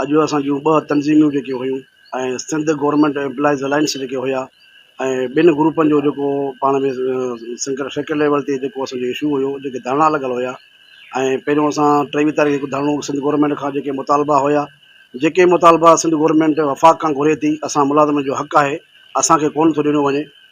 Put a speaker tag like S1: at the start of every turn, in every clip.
S1: اڄ اسان جون ٻه تنظيمون جيڪي هيون ۽ سنڌ گورنمينٽ ايمپلائيز الائنس جيڪي هيا ۽ ٻن گروپن جو جيڪو پاڻ ۾ سيڪريٽري ليول تي جيڪو اسان جو اشو هيو جيڪي ڌرڻا لڳل هيا ۽ پهريون اسان ٽيويهه تاريخ جو ڌرڻو سنڌ گورنمينٽ کان جيڪي مطالبا هيا جيڪي مطالبا سنڌ گورنمينٽ وفاق کان گهري ٿي اسان ملازمن جو حق آهي اسان کي ڪونه ٿو ڏنو وڃي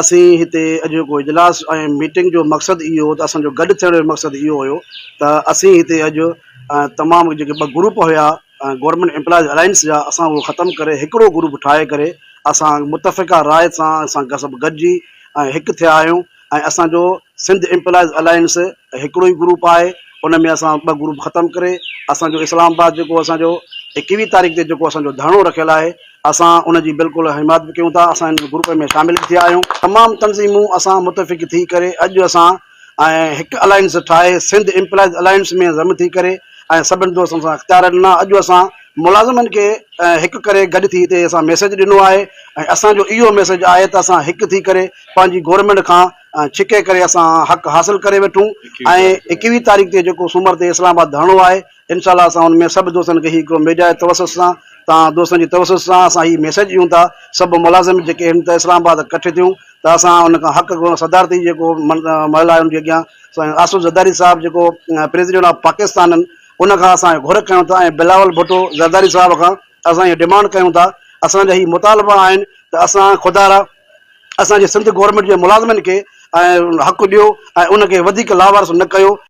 S1: اسين هتي اڄوڪو اجلاس ۽ ميٽنگ جو مقصد اهو هو ته اسان جو گڏ ٿيڻ جو مقصد اهو هيو ته اسين هتي اڄ تمام جيڪي ٻه گروپ هيا گورنمينٽ امپلائيز الائنس جا اسان اهو ختم ڪري هڪڙو گروپ ٺاهي ڪري اسان متفقه راء سان اسان سڀ گڏجي ۽ هڪ ٿيا آهيون ۽ اسان جو سنڌ امپلائيز الائنس هڪڙو ئي گروپ آهي ان ۾ اسان ٻه گروپ ختم ڪري اسان جو اسلام آباد جيڪو اسان جو ايڪويهه تاريخ تي جيڪو اسان جو ڌرڻو رکيل آهي اسان ان جي بلڪل حمايت به ڪيون ٿا، اسان ان گروپ ۾ شامل به ٿيا آهيون، تمام تنظيمون اسان متفق ٿي ڪري اڄ اسان ۽ هڪ الائنس ٺاهي سنڌ ايمپلائيز الائنس ۾ ضم ٿي ڪري ۽ سڀن دوستن سان اختيار ڏنا، اڄ اسان ملازمن کي هڪ ڪري گڏ ٿي هتي اسان ميسيج ڏنو آهي ۽ اسان جو اهو ميسيج آهي ته اسان هڪ ٿي ڪري پنهنجي گورنمينٽ کان ڇڪي ڪري اسان حق حاصل ڪري وٺون ۽ ايڪويهه تاريخ تي جيڪو سومر تي اسلام آباد ڌرڻو آهي انشاء الله اسان ان ۾ سڀ دوستن کي هي هڪڙو ميڊيا جي توسط سان تان دوستن جي توسط سان اسان هي ميسيج ڏيون ٿا سڀ ملازم جيڪي هن ته اسلام آباد ڪٺي ٿيون ته اسان ان کان حق گهرون صدارتي جيڪو محل آهي ان جي اڳيان سائين آصف زرداري صاحب جيڪو پريزيڊنٽ آف پاڪستان ان کان اسان گهر ڪيون ٿا ۽ بلاول ڀٽو زرداري صاحب کان اسان هي ڊيمانڊ ڪيون ٿا اسان جا هي مطالبا آهن ته اسان خدارا اسان جي سنڌ گورنمينٽ جي ملازمن کي حق ڏيو ۽ ان کي وڌيڪ لاوارث نه ڪيو.